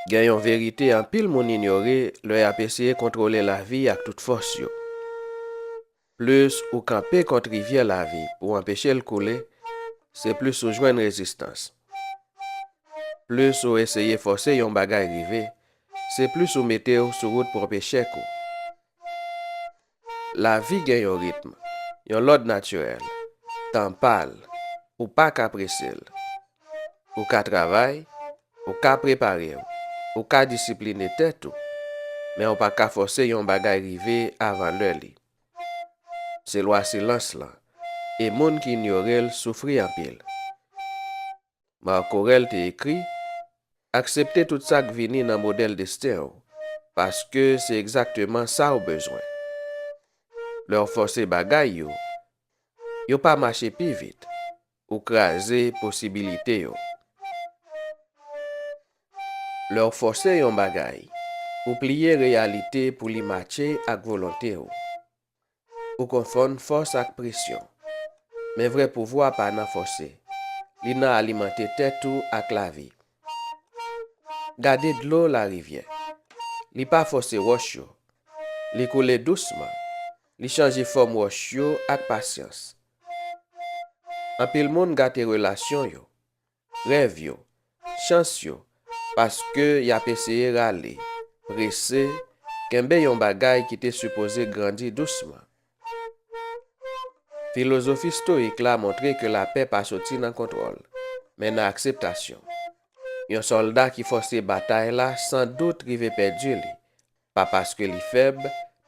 Gen yon verite anpil moun inyore lè y ap eseye kontwole lavi ak tout fòs yo, Plis ou kanpe kont rivyè lavi pou w anpeche l koule, se plis ou jwenn rezistans. Plis ou eseye fòse yon bagay rive, se plis ou mete w sou wout pwòp echèk ou. Lavi gen yon ritm, yon lòd natirèl, tan pa l, ou pa ka prese l. Ou ka travay, ou ka prepare w, ou ka disipline tèt ou, men ou pa ka fòse yon bagay rive avan lè li. Se lwa silans lan, e moun ki inyore l soufri anpil. Marc Aurèle te ekri, Aksepte tout sa k vini nan modèl desten w, paske se egzakteman sa w bezwen. Lè w fòse bagay yo, yo pa mache pi vit, ou kraze posibilite yo. Lè w fòse yon bagay, ou pliye reyalite pou li matche ak volonte w. Ou konfonn fòs ak presyon. Men vrè pouvwa pa nan fòse. Li nan alimante tèt ou ak lavi. Gade dlo larivyè. Li pa fòse wòch yo. Li koule dousman. Li chanje fòm wòch yo ak pasyans. Anpil moun gate relasyon yo. rèv yo, chans yo, paske y ap eseye rale, prese, kenbe yon bagay ki te sipoze grandi dousman. Filozofi stoyik la montre ke lapè pa soti nan kontwòl, men nan akseptasyon. Yon sòlda ki fòse batay la san dout rive pèdi li, pa paske li fèb,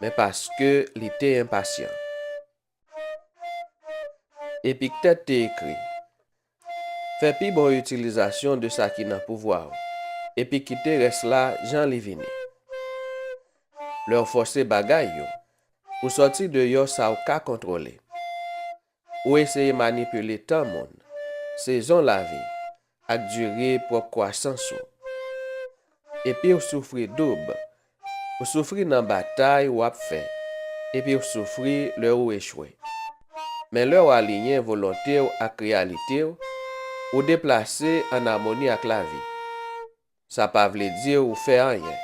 men paske li te enpasyan. Epiktet te ekri, Fè pi bon itilizasyon de sa ki nan pouvwa ou, epi kite rès la jan li vini. Lè w fòse bagay yo, ou sòti deyò sa w ka kontwole. Ou eseye manipile tan moun, sezon lavi, ak dire pwòp kwasans ou. Epi w soufri doub, ou soufri nan batay w ap fè, epi w soufri lè ou echwe. Men lè w aliyen volonte w ak reyalite w, ou deplase ann amoni ak lavi. Sa pa vle di ou fè anyen.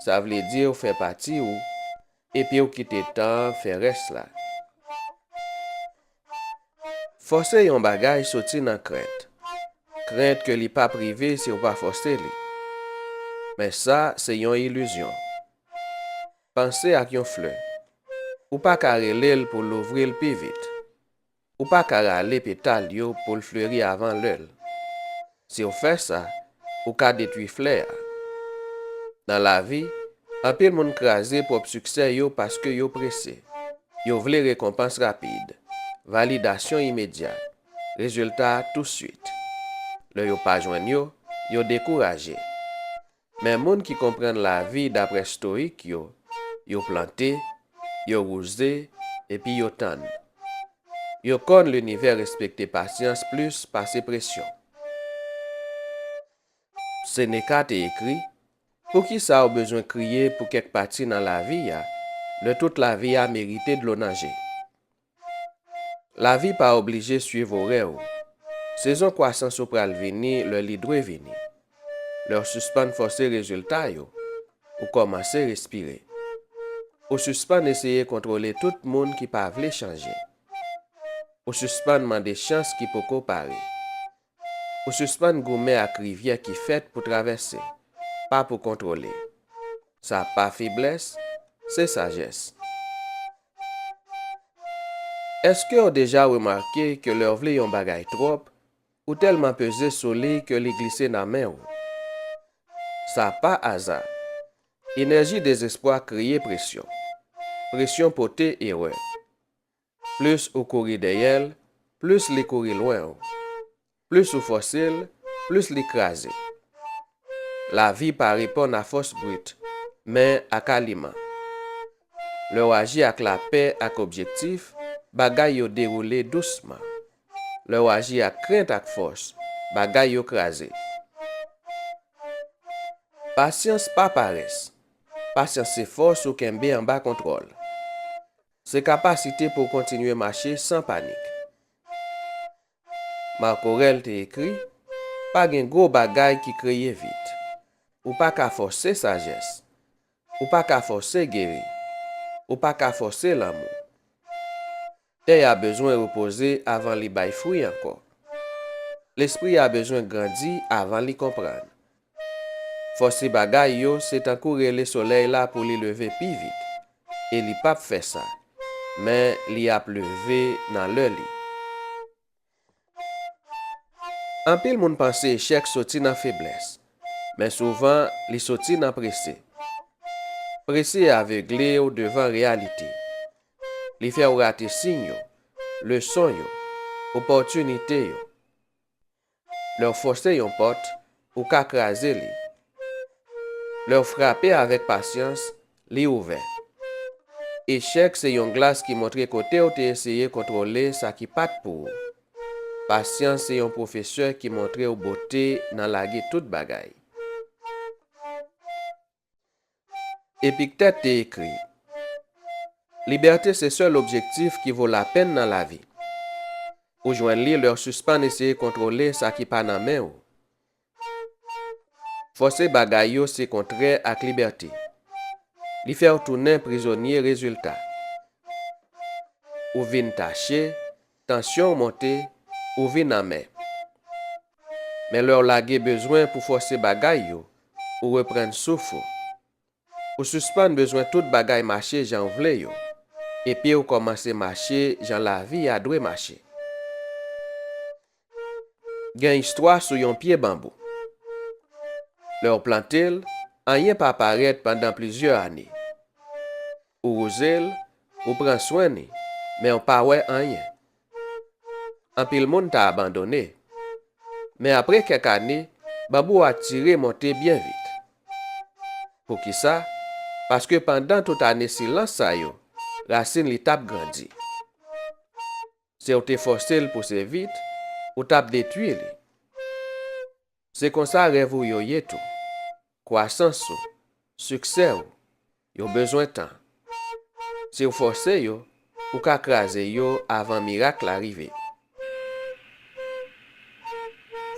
Sa vle di ou fè pati ou epi ou kite tan an fè rès la. Fòse yon bagay soti nan krent. Krent ke li pap rive si ou pa fòse li. Men sa se yon ilizyon. Panse ak yon flè. Ou pa ka rele l pou louvri l pi vit. Ou pa ka rale petal yo pou l fleri avan lè l. Si w fè sa, ou ka detwi flè a. Nan lavi, anpil moun kraze pwòp siksè yo paske yo prese. Yo vle rekonpans rapid, validasyon imedya, rezilta tousuit. Lè yo pa jwenn yo, yo dekouraje. Men moun ki konprann lavi dapre stoyik yo, yo plante, yo wouze, epi yo tann. Yo konn linivè respekte pasyans plis pase presyon. Seneca te ekri, Poukisa ou bezwen kriye pou kèk pati nan lavi a, lè tout lavi a merite dlo nan je? Lavi pa oblije suiv orè ou. Sezon kwasans ou pral vini lè li dwe vini. Lè w sispann fòse rezilta yo, ou kòmanse respire. Ou sispann eseye kontwole tout moun ki pa vle chanje. Ou sispann mande chans ki poko pare. Ou sispann goumen ak rivyè ki fèt pou travèse, pa pou kontwole. Sa pa feblès, se sajès. Eske w deja remake ke lè w vle yon bagay twòp, ou tèlman peze sou li ke li glise nan men ou? Sa pa aza. Enèji dezespwa kreye presyon. Presyon pote erè. Plis ou kouri dèyè l, plis li kouri lwen ou. Plis ou fòse l, plis li kraze. Lavi pa reponn a fòs brit, men ak aliman. Lè w aji ak lapè ak objektif, bagay yo dewoule dousman. Lè w aji ak krent ak fòs, bagay yo kraze. Pasyans pa parès. Pasyans se fòs ou kenbe anba kontwòl. Se kapasite pou w kontinye mache san panik. Marc Aurèle te ekri, Pa gen gwo bagay ki kreye vit. Ou pa ka fòse sajès. Ou pa ka fòse geri. Ou pa ka fòse lanmou. Tè a bezwen repoze avan li bay fwi ankò. Lespri a bezwen grandi avan li konprann. Fòse bagay yo se tankou rele solèy la pou li leve pi vit, e li pap fè sa, men li ap leve nan lè li. Anpil moun panse echèk soti nan feblès, men souvan li soti nan prese. Prese avegle w devan reyalite. Li fè w rate siy yo, leson yo, opòtinite yo. Lè w fòse yon pòt, ou ka kraze li. Lè w frape avèk pasyans, li ouvè. Echèk se yon glas ki montre kote w te eseye kontwole sa ki pa t pou ou. Pasyans se yon pwofesè ki montre w bote nan lage tout bagay. Epiktet te ekri, Libète se sèl objektif ki vo lapenn nan lavi. Ou jwenn li lè w sispann eseye kontwole sa ki pa nan men ou. Fòse bagay yo se kontrè ak libète. Li fè w tounen prizonye rezilta. Ou vin tache, Tansyon w monte, ou vin amè. Men lè w lage bezwen pou fòse bagay yo, ou reprann souf ou. Ou sispann bezwen tout bagay mache jan w vle yo, epi w kòmanse mache jan lavi a dwe mache. Gen istwa sou yon pye banbou. Lè w plante l, anyen pa parèt pandan plizyè ane. Ou wouze l, ou pran swen li, men w pa wè anyen. Anpil moun ta abandone. Men apre kèk ane, banbou a tire monte byen vit. Poukisa? Paske pandan tout ane silans sa yo, rasin li t ap grandi. Se w te fòse l pouse vit, ou t ap detwi li. Se konsa rèv ou yo ye tou. Kwasans ou, siksè ou, yo bezwen tan. Si w fòse yo, ou ka kraze yo avan mirak la rive.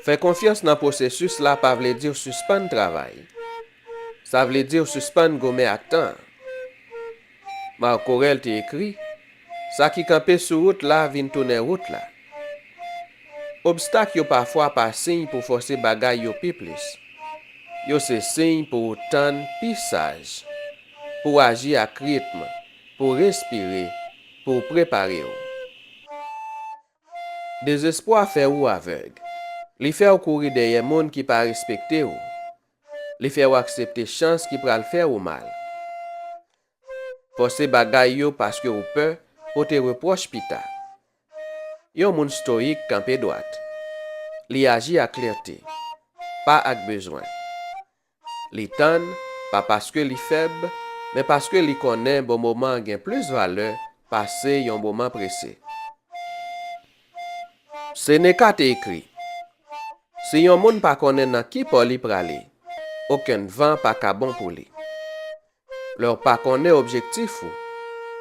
Fè konfyans nan pwosesis la pa vle di w sispann travay. Sa vle di w sispann goumen ak tan an. Marc Aurèle te ekri, Sa ki kanpe sou wout la vin tounen wout la. Obstak yo pafwa pa siy pou fòse bagay yo pi plis. Yo se siy pou ou tann pi saj, pou w aji ak ritm, pou w respire, pou w prepare w. Dezespwa fè ou avèg. Li fè w kouri dèyè moun ki pa respekte ou, Li fè ou aksepte chans ki pral fè ou mal. Fòse bagay yo paske ou pè pote repwòch pita. Yon moun stoyik kanpe dwat. Li aji ak klète, pa ak bezwen. Li tann, pa paske li fèb, men paske li konnen bon moman gen plis valè pase yon moman prese. Seneca te ekri, Si yon moun pa konnen nan ki pò li prale, okenn van pa ka bon pou li. Lè w pa konnen objektif ou,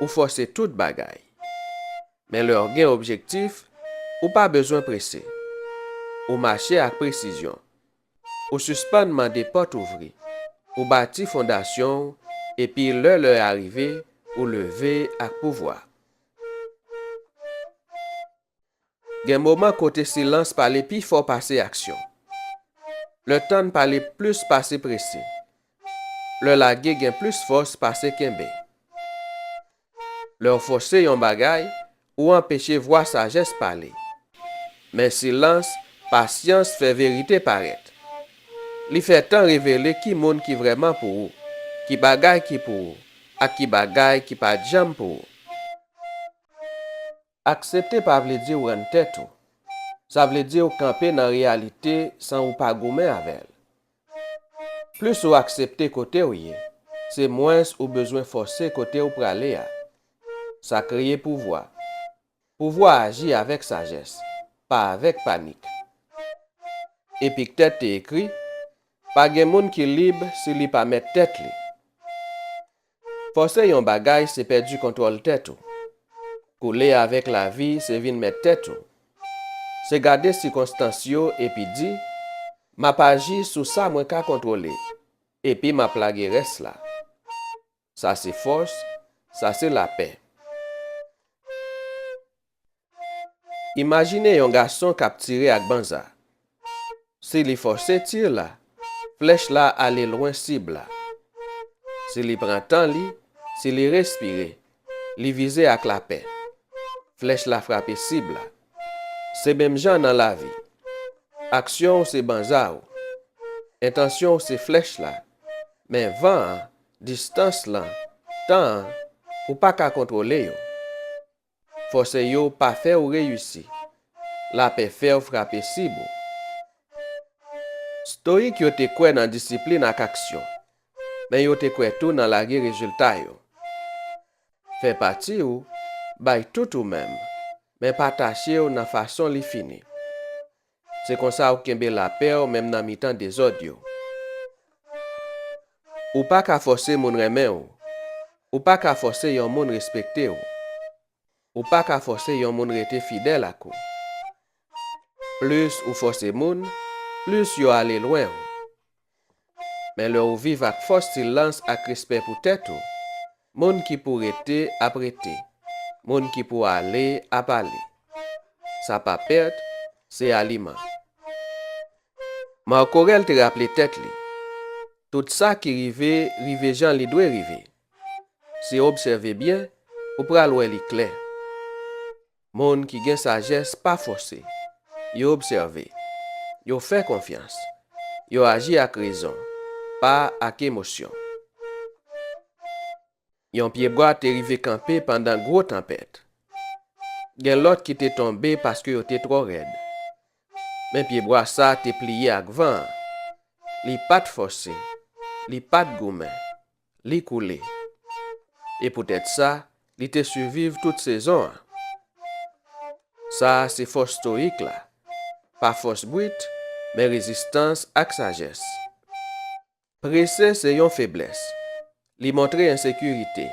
ou fòse tout bagay. Men lè w gen objektif, ou pa bezwen prese. Ou mache ak presizyon. Ou sispann mande pòt ouvri. Ou bati fondasyon w epi lè lè a rive ou leve ak pouvwa. Gen moman kote silans pale pi fò pase aksyon. Lè tann pale plis pase prese. Lè lage gen plis fòs pase kenbe. Lè w fòse yon bagay, ou anpeche vwa sajès pale. Men silans, pasyans fè verite parèt. Li fè tan revele ki moun ki vrèman pou ou, ki bagay ki pou ou, ak ki bagay ki pa t janm pou ou. Aksepte pa vle di w rann tèt ou. Sa vle di w kanpe nan reyalite san ou pa goumen avè l. Plis ou aksepte kote w ye, se mwens ou bezwen fòse kote ou prale a. Sa kreye pouvwa. Pouvwa aji avèk sajès, pa avèk panik. Epiktèt te ekri, Pa gen moun ki lib si li pa mèt tèt li. Fòse yon bagay se pèdi kontwòl tèt ou. Koule avèk lavi se vin mèt tèt ou. Se gade sikonstans yo epi di, M ap aji sou sa mwen ka kontwole, epi m ap lage rès la. Sa se fòs, sa se lapè. Imajine yon gason kap tire ak banza. Si li fòse tir la, flèch la ale lwen sib la. Si li pran tan li, si li respire, li vize ak lapè. Flèch la frape sib la. Se menm jan nan lavi. Aksyon w se banza ou. Entansyon w se flèch la. Men van an, distans lan, tan an, ou pa ka kontwole yo. Fòse yo pa fèw reyisi. Lapè fèw frape sib ou. Stoyik yo te kwè nan disiplin ak aksyon, men yo te kwè tou nan lage rezilta yo. Fè pati ou, bay tout ou menm, men pa tachew nan fason li fini. Se konsa ou kenbe lapè w menm nan mitan dezòd yo. Ou pa ka fòse moun renmen w. Ou pa ka fòse yon moun respekte w. Ou pa ka fòse yon moun rete fidèl ak ou. Plis ou fòse moun, plis yo ale lwen w. Men lè ou viv ak fòs silans ak respè pou tèt ou, moun ki pou rete ap rete, moun ki pou ale ap ale. Sa pa pèt, se aliman. Marc Aurèle te raple tèt li, Tout sa ki rive, rive jan li dwe rive. Si w obsève byen, ou pral wè li klè. Moun ki gen sajès pa fòse. Yo obsève. Yo fè konfyans. Yo aji ak rezon, pa ak emosyon. Yon pyebwa te rive kanpe pandan gwo tanpèt. Gen lòt ki te tonbe paske yo te twò rèd. Men pyebwa sa a te pliye ak van an. Li pa t fòse. Li pa t goumen. Li koule. E poutèt sa, li te siviv tout sezon an. Sa a se fòs stoyik la, pa fòs brit, men rezistans ak sajès. Prese se yon feblès, li montre ensekirite.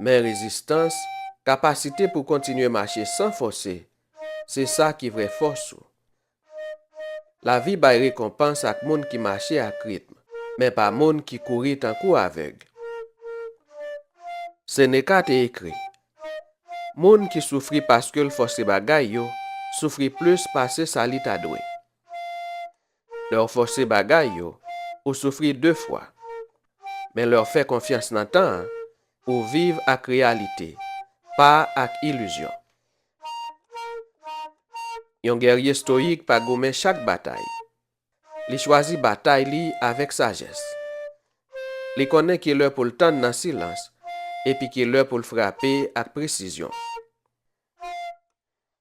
Men rezistans, kapasite pou kontinye mache san fòse, se sa ki vrè fòs ou. Lavi bay rekonpans ak moun ki mache ak ritm, men pa moun ki kouri tankou avèg. Seneca te ekri, Moun ki soufri paske l fòse bagay yo soufri plis pase sa li ta dwe. Lè w fòse bagay yo, ou soufri de fwa. Men lè w fè konfyans nan tan an, ou viv ak reyalite, pa ak ilizyon. Yon gèrye stoyik pa goumen chak batay. Li chwazi batay li avèk sajès. Li konnen ki lè pou l tann nan silans epi ki lè pou l frape ak presizyon.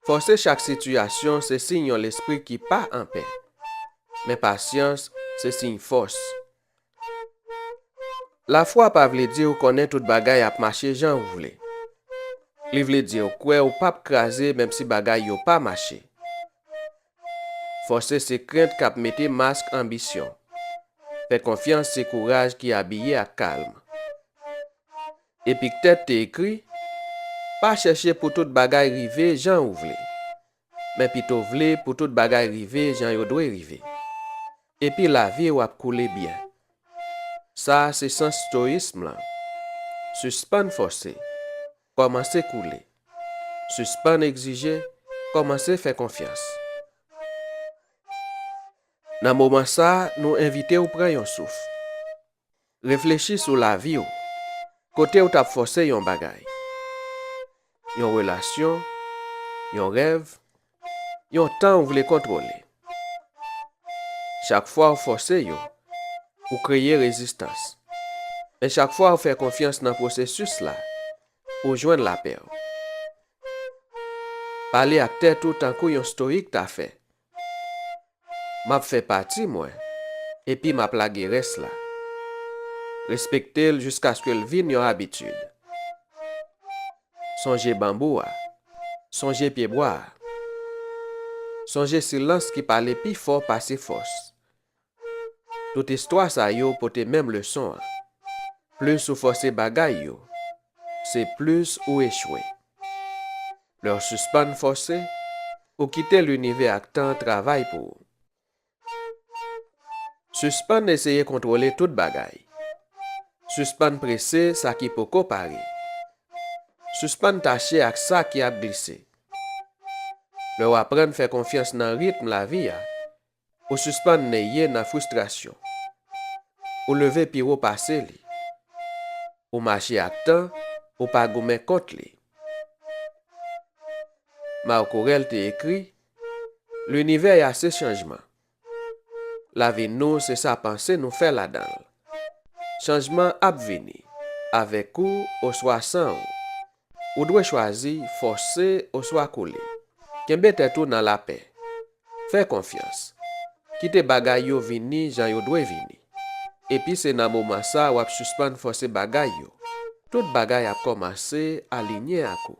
Fòse chak sitiyasyon se siy yon lespri ki pa anpè. Men pasyans se siy fòs. Lafwa pa vle di ou konnen tout bagay ap mache jan ou vle. Li vle di ou kwè ou pap kraze menm si bagay yo pa mache. Fòse se krent k ap mete mask anbisyon. Fè konfyans se kouraj ki abiye ak kalm. Epiktèt te ekri, Pa chèche pou tout bagay rive jan ou vle. Men pito vle pou tout bagay rive jan yo dwe rive. Epi lavi w ap koule byen. Sa a se sans stoyism lan. Sispann fòse, kòmanse koule. Sispann egzije, kòmanse fè konfyans. Nan moman sa a, nou envite w pran yon souf. Reflechi sou lavi w kote w t ap fòse yon bagay, yon relasyon, yon rèv, yon tan ou vle kontwole. Chak fwa w fòse yo, ou kreye rezistans. Men chak fwa w fè konfyans nan pwosesis la, ou jwenn lapè w. Pale ak tèt ou tankou yon stoyik ta fè. Map fè pati mwen epi map lage rès la. Respekte l jiskaske l vin yon abitid. Sonje banbou a. Sonje pyebwa a. Sonje silans ki pale pi fò pase fòs. Tout istwa sa yo pote menm leson an, plis ou fòse bagay yo, se plis ou echwe. Lè w sispann fòse, ou kite linivè ak tan travay pou ou. Sispann eseye kontwole tout bagay. Sispann prese sa ki poko pare. Sispann tache ak sa ki ap glise. Lè w aprann fè konfyans nan ritm lavi a, Ou sispann neye nan fristrasyon. Ou leve pi wo pase li. Ou mache ak tan, ou pa goumen kont li. Marco Rell te ekri, Linivè a se chanjman. Lavi nou se sa panse nou fè ladan l. Chanjman ap vini, avèk ou oswa san ou. Ou dwe chwazi fòse oswa kole. Kenbe tèt ou nan lapè. Fè konfyans. Kite bagay yo vini jan yo dwe vini. Epi se nan moman sa wap sispann fòse bagay yo. Tout bagay ap kòmanse alinye ak ou.